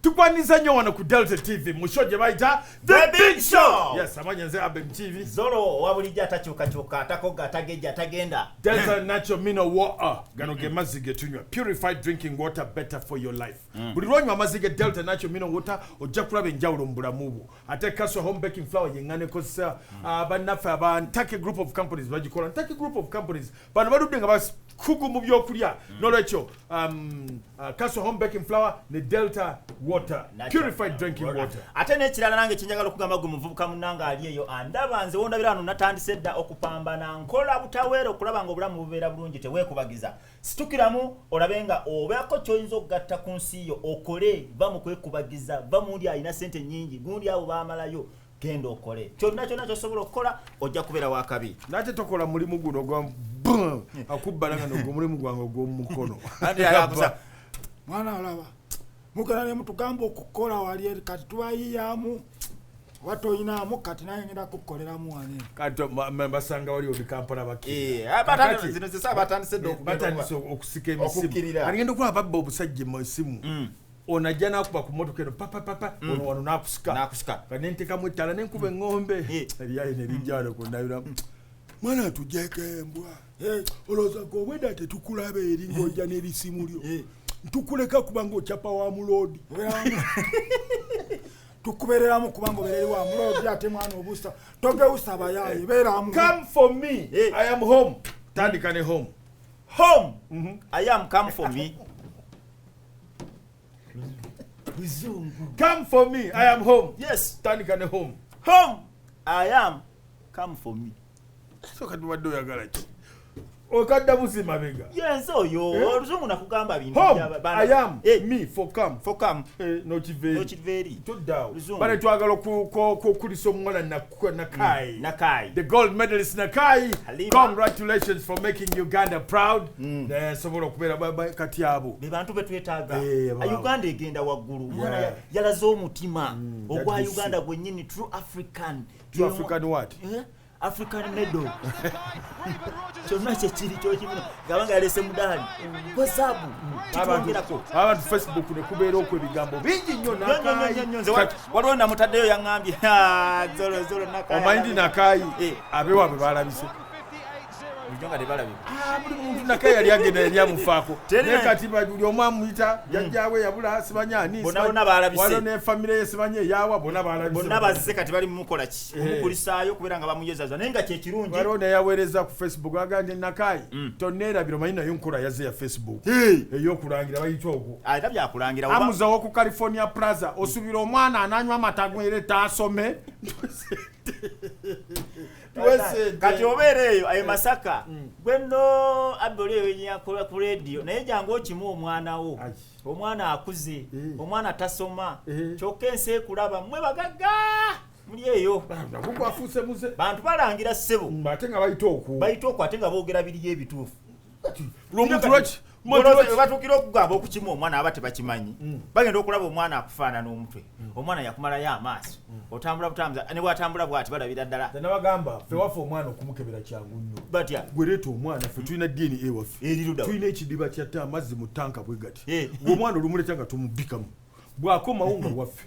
tukwaniriza nnyo wano ku delta tv mu show gye bayita The Big Show. yes amanya nze abem tv zolo owa bulijjo atakyukakyuka atakoga atagejja atagenda delta nacho mino water gano ge mazzi ge tunywa purified drinking water better for your life buli lwonywa amazzi ge delta nacho mino water ojja kulaba enjawulo mu bulamu bwo ate kaswa home baking flour yengana ekozesa hmm. ah, bannaffe aba ntake group of companies bagikola ntake group of companies bano baludde nga bakugu mu byokulya hmm. nolwekyo um, ah, kaswa home baking flour ne delta water purified drinking water ate nekirala nange kyenjagala okugamba gwe muvubuka munange ali eyo andaba nze wondabira wano natandise dda okupambana nkola butaweera okulaba nga obulamu bubeera bulungi tewekubagiza Situkiramu olabe nga obeako kyoyinza okugatta ku nsi yo okole, va mu kwekubagiza, va mundi alina sente nyingi, gundi abo bamalayo genda okole kyonna kyonna kyosobola okukola ojja kubeera wakabi nate tokola mulimu guno gwa akubbalanga nogwo omulimu gwange ogwomukono mwana olaba mugala ne mutugamba okukola wali kati tubayiyamu watoyinamu kati naye ngenda kukoleramu wani kati basanga wali oli kampala bakiribatandise eh, eh, okusika emisimu agenda okuba babba obusajja mu esimu mm. onajja nakuba ku motoka eno papapapa mm. ono wano nakusika nentekamu ettala nenkuba eŋŋombe eh. eryayo nerijjalo kunayiramu mwana tujeko embwa eh, olowooza gwe obweda tetukulaba eri ng'ojja n'erisimu lyo eh. ntukuleka kubanga okyapa wa muloodi tukubereramu kubanga oberere wa muloodi ate mwana obusa togeusa bayaye beramu come for me eh. i am home tandika ne home home mhm. i am come for me come for me i am home yes tandika ne home home i am come for me kati obadde oyagala ki okadda buzi mabega yenze oyo eh? oluzungu nakugamba bintuayamu eh. me for come for come eh, nokiveri toddaawo bale twagala okukulisa omuwala nakai mm, nakai the gold medalist nakai congratulations for making uganda proud mm. sobola okubeera kati abo bebantu betwetaaga uganda egenda waggulu yalaze omutima mm, ogwa uganda gwenyini true african You African what? Eh? African medal. Kyonna kye kiri kyokibuna ngaba nga yalese mudaali gwe zaabu kitwongerako abantu facebook ne kubeera okwo ebigambo bingi nnyo waliwo namutaddeyo yaŋambye zolozolo omanyi ndi nakaayi eh. abewaabwe balabise bulijjo nga tebalabika ah, buli muntu naka yali agenda yali amufaako naye kati buli omu amuyita hmm. jajjawe yabula sibanya ani bonabona balabise ne famire ye sibanya eyawa bona balabise bonna bazze kati bali mumukola ki eh. omukulisaayo kubeera nga bamuyezaza naye nga kyekirungi waliwo neyaweereza ku facebook agambye nakayi hmm. tonneerabira omanyi nayo nkola yazze ya facebook eyokulangira bayita ogwo ah, era byakulangira amuzawo ku california plaza osubira omwana ananywa amata gwere taasome kati obeera eyo aye masaka mm. gwe no abbi oli ewenyakola ku rediyo naye jangu okimu omwana wo omwana akuze eh. omwana tasoma eh. kyokka ensi ekulaba mwe bagagga muli eyo bantu balangira ssebo mm, bayita okwo ate nga boogera biriyo ebituufu batukira okugamba okukima omwana aba tebakimanyi mm. bagenda okulaba omwana akufaanana omutwe mm. omwana yakumalayo amaaso mm. otambula butambuza ne bwatambula bwati balabira ddala nabagamba fe waffe omwana okumukebera kyangu nnyo batya gwereeta omwana fe tulina dna ewaffe tulina ekidiba kyatta amazzi mu tanka bwe gati eh. omwana olumuleta nga tumubikamu bwakomawo nga waffe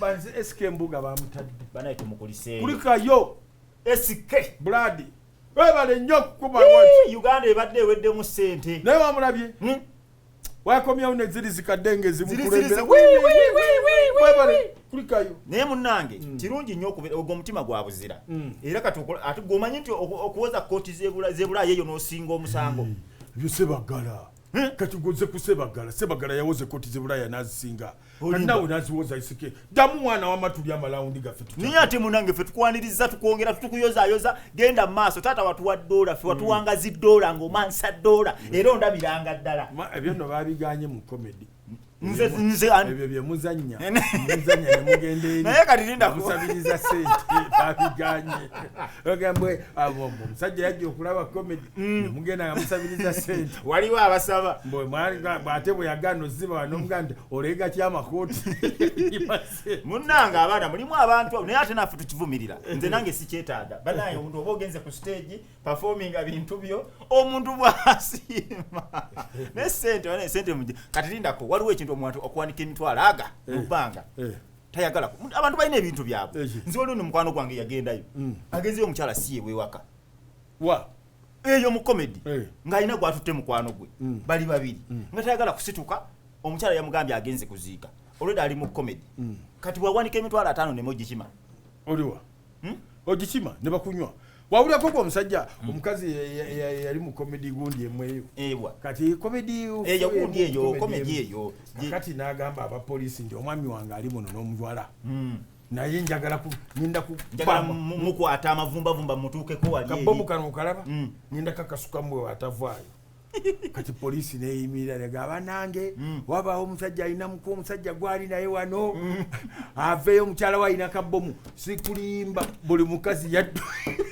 banze SK mbuga bamutadde banaye tumukuliseeyo kulikayo SK blood webale nnyo kukuba wati Uganda ebadde eweddemu ssente naye wamulabye hmm? wakomyawo neziri zikadde ngezimukulemberakulikayo naye munange hmm. kirungi nnyo okubeera ogwo omutima gwa buzira hmm. era kati ati gwomanyi nti okuwoza kooti zebulaayo eyo n'osinga omusango hmm. byosebagala kati gwoze kusebagala sebagala yawoze kooti zebulaaya n'azisinga nawe naziwoza isike ddamu mwana wama tuli amalawundi gaffe naye ate munange ffe tukwaniriza tukwongera tukuyozayoza genda maaso taata watuwa doola fe watuwangazi mm. doola ngaomansa doola mm. era ondabiranga ddala ebyo no babiganye mu komedi nze nze ebyo bye muzanya muzanya ne mugende eri naye kati linda ko musabiriza sente babiganye ogambwe abo ah, musajja yajja okulaba comedy Mm. mugenda nga musabiriza sente waliwo abasaba ate bweyagana oziba nomugaa nti olega kyamakooti munange abaana mulimu abantu naye ate naffe tukivumirira nze nange sikyetaaga banaye omuntu oba ogenze ku stage performinga bintu byo omuntu bwasiima naye sente sente muje kati lindako waliwo ekintu omuntu okuwanika emitwalo aga eh. mubbanga eh. tayagala abantu balina ebintu byabwe eh. nze waliwo ne mukwano gwange yagendayo mm. agenzeyo omukyala siyebwewaka wa eyo mu comedy eh. ng'alina gw'atutte mukwano gwe mm. bali babiri mm. nga tayagala kusituka omukyala yamugambye agenze kuziika olweda ali mu comedy mm. kati bwawanika emitwalo ataano neme ogikima oliwa hmm? ogikima ne bakunywa wawulirako gwe omusajja hmm. omukazi yali mu comedy gundi emweyo ewa kati comedy eyo gundi eyo comedy eyo kati n'agamba abapoliisi nti omwami wange ali muno n'omuwala hmm. naye njagala ninda mukwata amavumbavumba mutuukeko walikabomu kano okalaba mm. ninda kakasuka mwe atavaayo kati poliisi neyimirira lega abanange mm. wabaawo omusajja alina muku omusajja gwali naye wano mm. aveeyo omukyala we alina kabomu sikulimba buli mukazi yaddu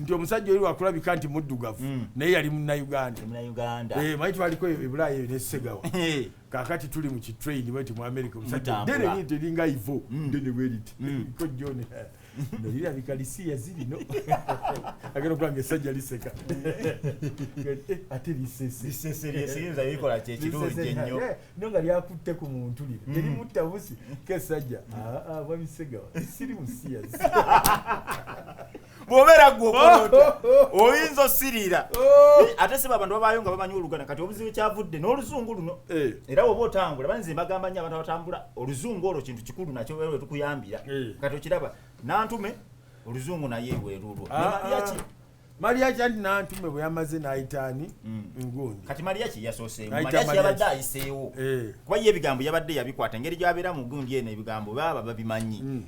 nti omusajja oli wakulabika nti muddugavu mm. naye yali munaugandamayi eh, twaliko ebulaayo eyo nesegawa eh. kakati tuli mu kitrain bweti mu america omusajja dene liri teringa ivo mm. dene bweriti mm. ko john eh, nolirabika lisiya zirino agenda okubanga esajja liseka ate liseseseyinzabikola kyekirungi ennyo no nga lyakutte ku muntu lino terimutta busi kesajja ah, ah, bwabisegawa siri musiyazi bw'obeera gwe okolota oyinza osiriira oh. eh, ate siba abantu babaayo nga bamanyi oluganda kati obuzibu kyavudde n'oluzungu luno eh. era oba otambula banze mbagamba nnyo abantu abatambula oluzungu olwo kintu kikulu nakyo wewe tukuyambira eh. kati okiraba nantume oluzungu naye weerulwo ah, ah. maliyaki anti nantume bwe yamaze n'ayitaani mm. ngundi kati maliyaki yasoseemu maliyaki yabadde ayiseewo kuba ye ebigambo yabadde yabikwata engeri gyabeera mu gundi eno ebigambo baba babimanyi mm.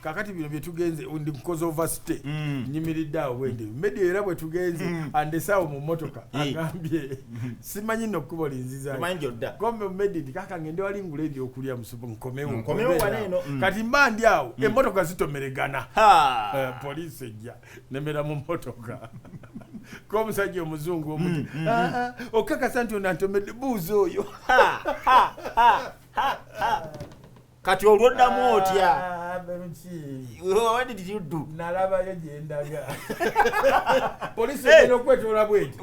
kakati bino byetugenze ndi kukoze overstay mm. nyimiridde awo bwendi mm. media era bwetugenze mm. andesaawo mu motoka agambye simanyi no kkubo linzizakombe mumedi nti kaka ngende wali ngula ebyokulya musupu nkomewo kati mba ndi awo emotoka zitomeregana eh, poliisi ejja nemera mu motoka komusajja omuzungu omuti ah, ah, okakasa nti onantomedde buuzi oyo kati olwoddamu ah, otya nalabayo gyendaga polisi ena okwetoola bweti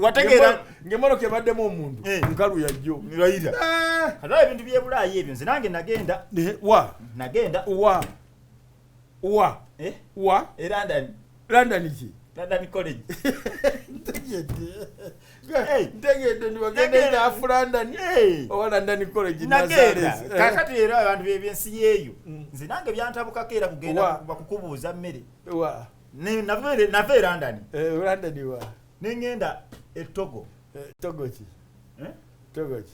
ngemotoka ebaddemu omuntu eh. nkalu yajjo ira ah. ebintu byebulaayi ebyo nze nange nagenda eh, nagenda wa eh? wa e london london ki london college ntegedde nibagenda enafu london oba london college kakati era abantu bebyensi yeeyo mm. nze nange byantabukako era kugenda bakukubuuza mmere nava e london eh, london wa nengenda etogo eh, togo ki eh? togo ki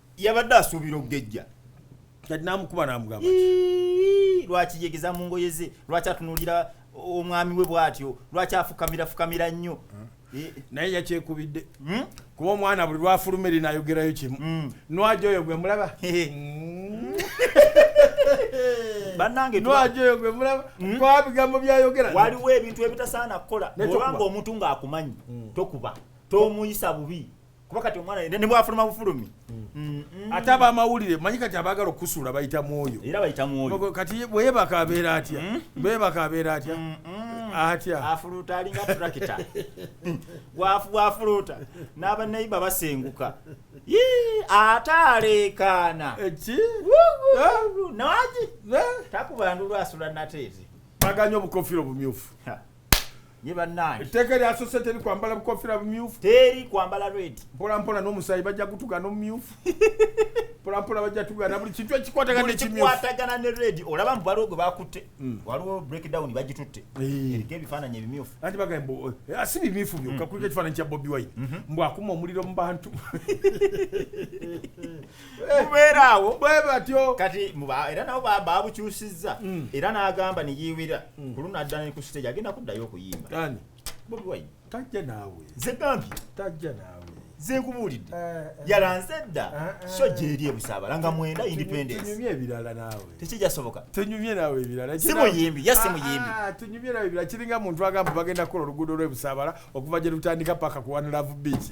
yabadde asuubira okugejja kati namukuba namugamba lwaki yegeza mu ngoye ze lwaki atunulira omwami we bwatyo lwaki afukamira fukamira nnyo hmm. eh. naye yakyekubidde hmm? kuba omwana buli lwafuluma eri nayogerayo kimu hmm. nwaja oyo gwe mulaba banange nwaja oyo gwe mulaba kwa bigambo byayogera waliwo ebintu ebitasaana kukola obanga omuntu ng'akumanyi tokuba tomuyisa bubi kuba kati omwana ne bwafuluma bufulumi mm, mm. ate abamawulire manyi kati abagala okusuula bayita mwoyo era bayita mwoyo kati bweyebaka abeera atya mm. bweyebaka abeera atya atya afuluuta alinga turakita bwafuluuta n'abanaiba basenguka ate aleekaana eki nawaki takubandulwasula nateete baganya obukofira obumyufu ye bannange etteeka eryasose teri kwambala bukofira bumyufu teri kwambala red mpolampola n'omusaayi bajja gutuga n'omumyufu mpolampola bajja tugana buli kintu ekikwataganakikwatagana ne red olaba mbu waliwo gwe bakutte mm. waliwo breakdown bagitutte eriko ebifaananyi ebimyufu anti bagamba eh, ah, si bimyufu byokka mm. kuliko ekifaananyi kya bobi wine mm-hmm. mbu akuma omuliro mu bantu kubeeraawo eh, bwe batyo kati era nabo babukyusizza mm. era n'agamba neyiwira mm. ku luno addana ne ku siteegi agenda kuddayo okuyimba ani bobi wine tajja naawe nze gambye tajja naawe nze nkubuulidde eh, eh. yalanze dda eh, so gyeri ebusaabala nga mwenda independencetunyumye ebirala naawe tekijasoboka tunyumye naawe ebirala si muyimbi ya si ah, muyimbi ah, tunyumye naawe ebirala kiringa muntu agamba bagenda kukola oluguudo lw'ebusaabala okuva gye lutandika paka ku one love beach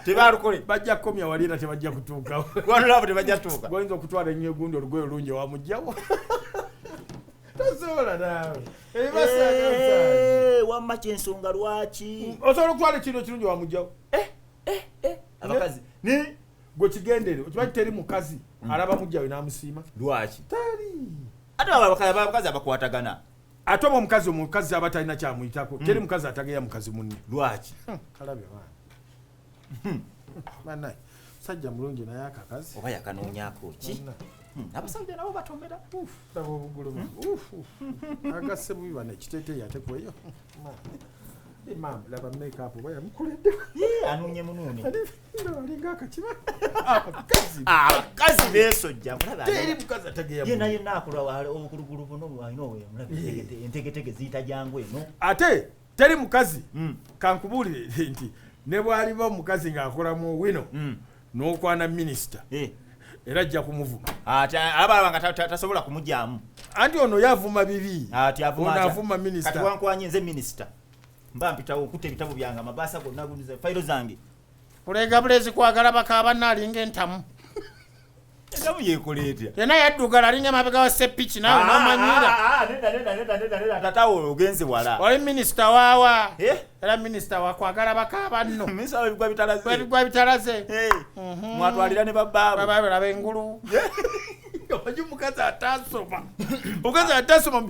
tebalukole bajja kukomya wali era tebajja kutuukawo ku one love tebajja tuuka goyinza okutwala ennyo egundi olugoye olungi wamugjawo tosobola naawe ebibasaaa wamma kyensonga lwaki osobola okutwala ekintu ekirungi wamugjawo eh, eh, eh. abakazi ni gwe kigendere okimanyi teri mukazi mm. alaba mugjawe namusiima lwaki teri ate abakazi abakwatagana ate oba omukazi omukazi aba talina kyamuyitako teri hmm. mukazi atageya mukazi munne lwaki hmm, kalabye baana hmm. banaye musajja mulungi naye akakazi oba yakanonyako ki abasajja nabo batomera laba obugulu agase bubi bana ekiteteyi ate kweyo laba makeup oba yamukoledde anonye munone abakazi besojja mulabyena yena akola obugulugulu buno bwalina owentegetege ziyita jangu eno ate teri mukazi hmm. kankubuulire nti ne bwaliba omukazi ng'akolamu wino hmm. n'okwana minisita eh. era ajja kumuvuma abalaba nga tasobola kumugyamu anti ono yavuma bibi ono avuma minisita kati wankwanye nze minisita mba mpitawo okutta ebitabo byange amabaasa gonna fayiro zange kuleega bulezi kwagala bakaaba naalinga entamu entamu yekola etya yena yaddugala alinga emabega wa sepiki naawe ah, namanyira ah, ah, tatawo ogenze wala oli minisita waawa eh? era minisita wakwagala bakaaba nno ebigwa bitalaze eh. mhm. mwatwalira ne babaabalaba engulu eh? omanyi omukazi atasoma omukazi atasoma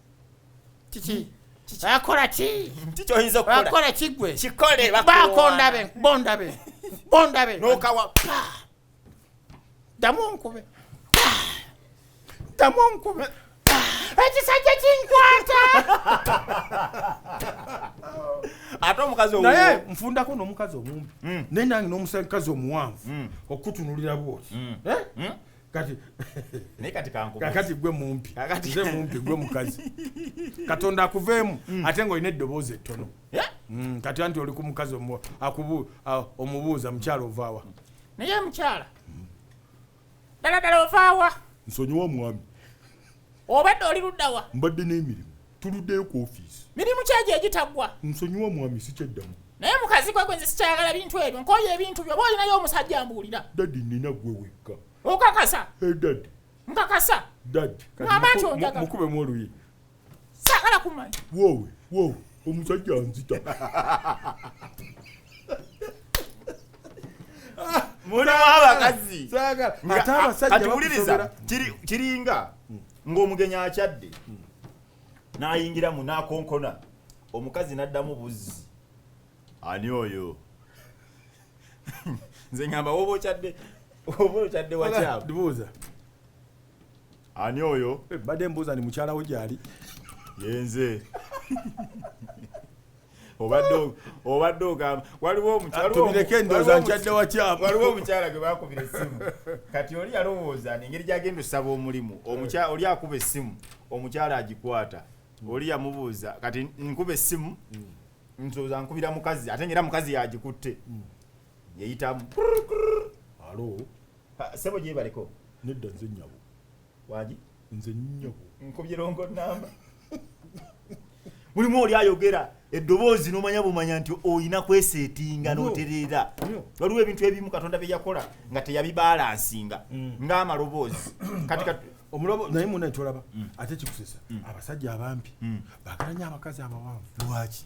kiki bakola ki tikyoyinza bakola kigwe kikole bakondabe bondabe bondabe nokawa damu nkube damu nkube ekisajja kinkwata ate omukazi naye nfundako nomukazi omumbi hmm. naye nange nomukazi omuwanvu hmm. okutunulira bwoti hmm. eh? kati naye kati kankubuuza kakati gwe mumpi Kakati- nze mumpi gwe mukazi katonda akuveemu ate ng'olina eddoboozi ettono Yeah. Mm, kati anti oli ku mukazi omu- akubu- a- omubuuza mukyala ovaawa naye mukyala ddala ddala ovaawa nsonyiwa mwami obadde oli luddawa mbadde n'emirimu tuluddeyo ku ofiisi mirimu kyegyo egitaggwa nsonyiwa omwami sikyaddamu naye mukazi gwe gwe nze sikyayagala bintu ebyo nkoyo ebintu byo oba olinayo omusajja ambuulira dadi nina gwe wekka okakasa eh, dadi nkakasa dadi mama nti onjaga mukubemu oluyi saagala kumanya wowe wowe omusajja nzita mulimu abakazi ate abasajja kiringa ng'omugenyi akyadde n'ayingiramu n'akonkona omukazi n'addamu buzzi ani oyo nze ngamba woba okyadde oba okyadde wakyabuuza ani oyo eh, badde mbuuza ni mukyalawo gyali yenze obadde ogamba waliwo omukyala gwe bakubira essimu kati oli yalowooza nengeri gyagenda osaba omulimu oli akuba essimu omukyala agikwata oli yamubuuza kati nkuba essimu mm. nsoza nkubira mukazi ate ngaera mukazi yagikutte mm. yeyitamu sebo gyebaliko nedda nze nyabo wagi nze nnyo nkubye longo namba mulimu oli ayogera eddoboozi n'omanya bumanya nti olina kweseetinga n'otereera waliwo ebintu ebimu katonda bye yakola nga teyabibalansinga mm. ng'amaloboozi kati omulobo naye muna kyolaba mm. ate kikusesa mm. abasajja abampi bagalanya abakazi abawanvu lwaki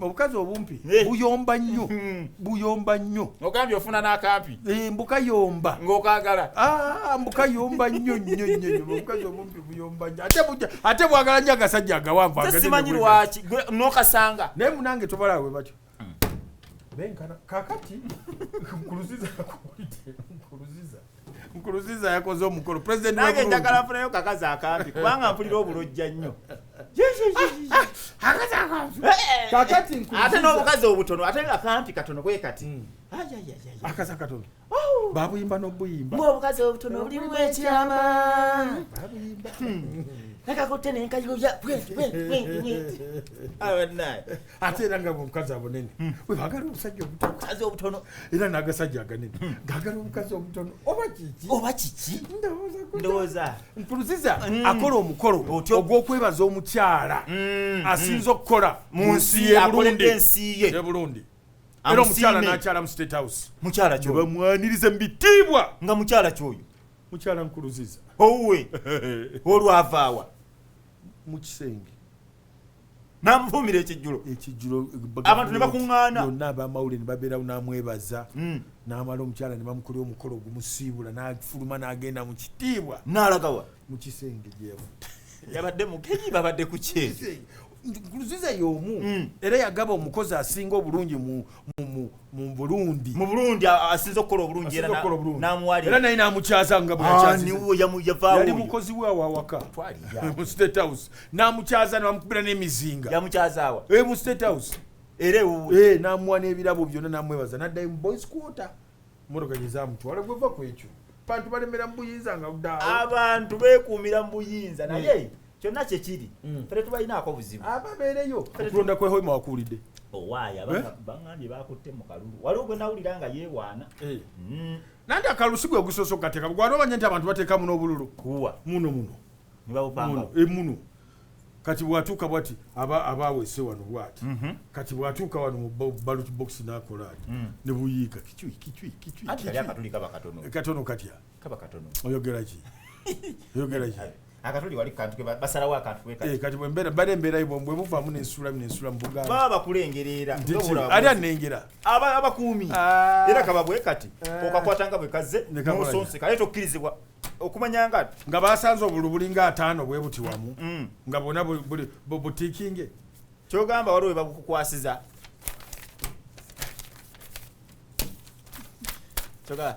obukazi obumpi eh. buyomba nnyo hmm. buyomba nnyo ogambye ofuna n'akampi eh, mbukayomba ng'okagala ah, mbukayomba nnyo nnyo nnyo obukazi obumpi buyomba nnyo ate bwagala nnyo agasajja agawanvu simanyi lwaki nokasanga naye munange tobala we batyo hmm. benkana kakati kuluziza kuluziza nkuruziza yakoze omukolo president nange njagala funayo kakazi akampi kubanga mpulira obulojja nnyo ate n'obukazi obutono ate akampi katono kwe kati hmm. akazi akatono oh. babuyimba n'obuyimba obukazi obutono bulimu ekyama nakakutte nenkayuya ate era nga bwomukazi abunene hmm. webagala omusajja omutokazi obutono era nagasajja aganene hmm. gagala omukazi omutono oba kiki oba kiki ndowooza nkuruziza hmm. akola omukolo ogwokwebaza omukyala asinza okukola mu nsi yeburundi yeburundi era omukyala nakyala mu state house mukyala kyoyo bamwaniriza mu bitiibwa nga mukyala kyoyo mukyala nkuruziza owe olwavaawa mu kisenge namuvuumira ekijjulo ekijjulo abantu ne bakuŋŋaana yonna abamawulire ne babeerawo n'amwebaza hmm. n'amala omukyala ne bamukolera omukolo ogumusiibula n'afuluma n'agenda mu kitiibwa n'alagawa mu kisenge gyemu yabadde mugenyi babadde ku kyezi luziza y'omu hmm. era yagaba omukozi asinga obulungi mu mu Burundi mu Burundi asinze okukola obulungi era n'amuwalira era naye n'amukyaza nga bweyali mukozi we awawaka mu state house n'amukyaza namukubira n'emizinga yamukyazaawa e eh, mu state house era ewuwe eh, n'amuwa n'ebirabo byonna n'amwebaza n'addayo mu boys quarter mmotoka gye zamutwala gwe va ku ekyo bantu balemera mu buyinza nga abantu beekuumira mu buyinza naye mm. kyonna kyekiri mm. fere tubalinaako buzibu ababeereyo okulonda kwe hoima wakuwulidde owaayi oh, eh? baŋambye bakutte mu kalulu waliwo gwe nawulira nga yeewaana eh. mm. nanti akalu si gwe gusoose okukateka gwali omanya nti abantu bateekamu n'obululu kuwa muno muno muno eh, muno kati bwatuuka bwati abaawese wano bwati mhm. kati bwatuuka wano mu ballot box nakola ati mm. ne buyiika kicwi kicwi kicwi katono katya kaba katono oyogera ki oyogera ki akatuli wali kantu ke basalawo akantu ke kati eh, kati bwembera bale mbera ibo mbwe muvamu ne sura ne sura mbuga baba kulengerera ndobura ali anengera aba abakuumi ah. era kababwe kati ah. okakwata nga bwe kaze musonse kale to kirizibwa okumanya nga nga basanze obulubuli nga atano bwe buti wamu mm, mm. nga bona buli butikinge kyogamba waliwo bakukwasiza kyogala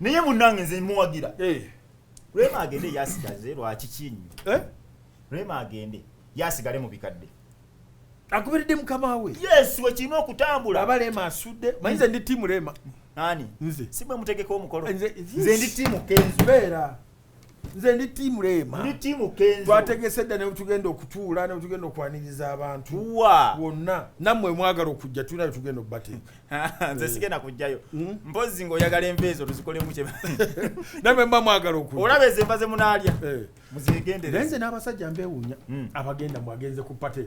naye munange nze muwagira eh. rema agende yasigaze lwaki kinyi eh? rema agende yasigale mu bikadde akubiridde mukama we yes wekirina okutambula aba rema asudde manyi nze ndi tiimu rema ani nze si bwe mutegeka omukolo nze ndi tiimu kenzo beera nze ndi tiimu leema ndi tiimu kenzo twategese dda nebutugenda okutuula nebutugenda okwaniriza abantu wa wonna nammwe mwagala okujja tulina betugenda okubateeka nze eh. sigenda kujjayo hmm? mpozi nga oyagala enva ezo tuzikolemu kye namwe mba mwagala okuja olaba ezo enva ze munaalya eh. muzegendere naye nze n'abasajja mbewuunya hmm. abagenda mwagenze ku pate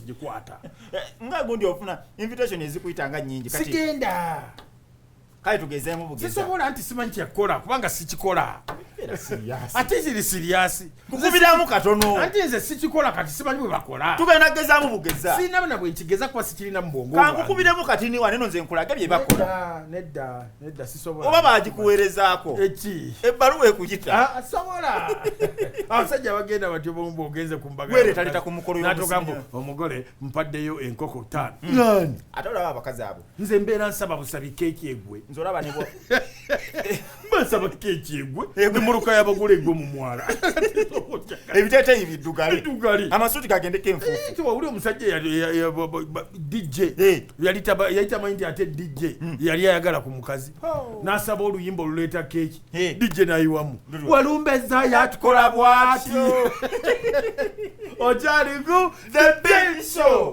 gikwata eh, nga gundi ofuna invitation ezikuyita nga nyingi kati sigenda kale tugezeemu bugeza sisobola nti simanyi kyekola kubanga sikikola ate ziri siriyasi nkukubiramu katono anti nze sikikola kati simanyi bwe bakola tugenda kugezaamu bugeza sirina bana bwe nkigeza kuba sikirina mu bwongo kankukubiremu kati niwa neno nze nkulage bye bakola nedda oba bagikuweerezaako ebbaluwa ekuyita ah, sobola abasajja bagenda batyo bomba ogenze ku mbagaweretaleta ku mukolo natugamba omugole mpaddeyo enkoko ttaano mm. ate olaba abakazi abo nze mbeera nsaba busabi keeki egwe nze olaba nebo basaba keeki egwe emuluka yabagula egwe mu mwala ebiteteyi biddugale amasuuti gagendeko enfuufu eh, wawuli omusajja dj eh. yali tamanyi nti ate dj hmm. yali ayagala ku mukazi oh. n'asaba oluyimba oluleeta keeki dj nayiwamu walumbeza yatukola bwati okyaliku the big show